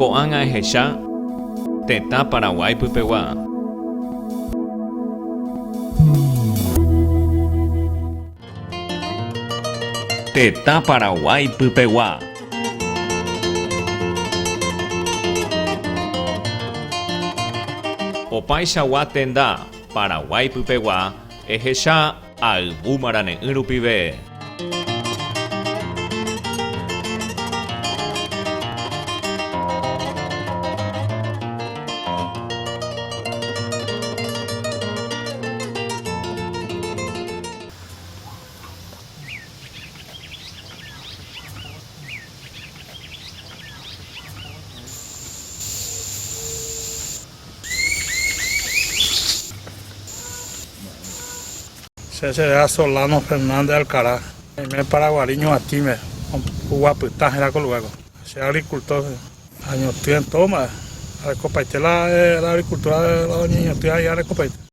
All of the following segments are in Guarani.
Ko'ág̃a ehecha tetã Paraguái pypegua. Tetã Paraguái pypegua. Opaichagua tenda Paraguái pypegua ehecha. Ayvu marane'ỹ rupive. Che chereha Solano Fernández Alcaraz. Oime Paraguari ñuatĩme oguapyta hérã ko lugar ko. Che agricultor che. Añotỹ en todo mba'e. Arekopaite la agricultura la oñeñotỹ aĩ arekopaite.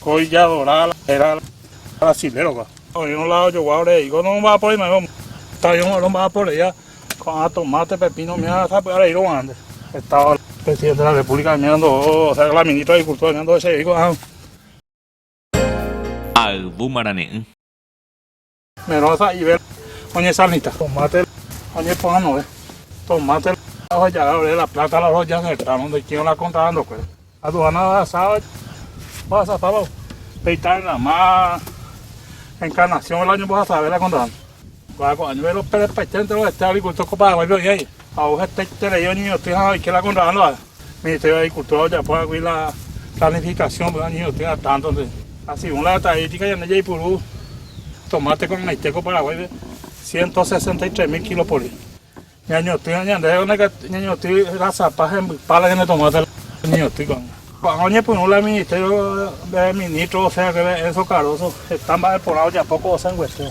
Ko ijadora héra brasiléropa. Oĩrõ la ojogua ore he'i, ko nomba'aporei ma'ẽva umíva. Tape omba'aporeíva ko'ã tomate, pepino umíva sapy'a reírõ guarãnte. Hetáva la Presidente de la República imíva ndo'o, osea la Ministra de Agricultura imíva ndo'esevéi ko'ã. Ha yvúma rane'ỹ. Merõ sa'ive oñesalnita. Tomate oñeporanove. Tomate ohoja'e ore la plata la ohoja heta ndoikĩva la kontrata ndokuéra. Aduana ohasáva ohasapáva peita rama Encarnación la oñembohasave la kontrata. Kuakua'año velope repaiténte rovete agricultor ko Paraguáipe oĩva jey. Ha ohetaiterei oñeñotỹ ha oike la kontraándova, mitãite agrikultúra ojapo hag̃ui la planifikasion pe oñeñotỹva tántode. Ha segun la estatístika ñande jaipuru tomáte ko'ag̃aite ko Paraguáipe ciento sesenta y tres mil kílo pori. Ñañotỹva ñande ñañotỹ rasapa ha hembypa la ñande tomáte oñeñotỹ ko'ág̃a. Ko'ág̃a oñepyrũ la Ministerio pe Ministro osẽ haguépe Enzo Cardoso heta mba'e porã ojapo ko osẽnguetéva.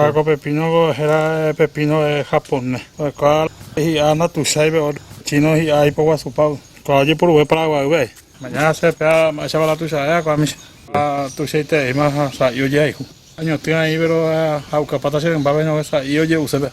Ha ko pepínoko héra pepíno japone. Oikuaa hi'a natuicháipe ótro chíno hi'a aipoguasupa. Oikuaa ojeporuve Paraguaýpe ae. Mañána che pea mba'éichapa latuicha e'a ko amis. Ha tuichaitereíma ha sa'i ojehayhu. Añotỹ aĩ péro ha'ukapáta che rympápe ñague sa'i oje'use pea.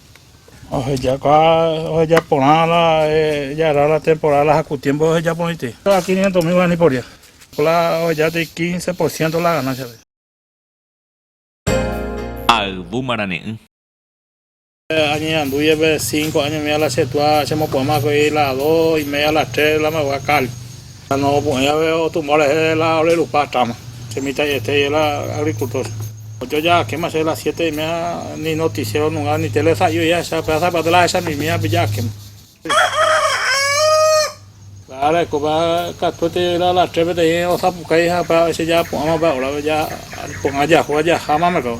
Ohejáka oheja porã la jaraa la temporada la jaku tiempo oheja porãite. La quinientos mil guarani por día. La oheja tei quince por ciento la ganancia. Ha yvu marane'ỹ. Añeñandu jepe cinco año mia la che túa chemopu'ãma ko'ei la dos y media a las tres la mboyka cal. Ha nomopu'ẽ jave otumba rehe la ore rupa táma, che mitã'iete jela agricultor. Ojoja'akéma che la siete y media ni noticiero nunga ni tele sa'i ojehecha pe ásape aty la ahecha mimi apilla'akéma. La areko pe katuete la la tres peteĩ osapukái ha pe aveces ja apu'ãma pe hora pe ja pogã jahu ajaha mamekao.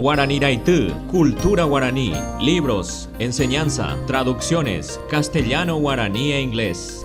Guarani Raity, Cultura Guarani, Libros, Enseñanza, Traducciones, Castellano, Guarani e Inglés.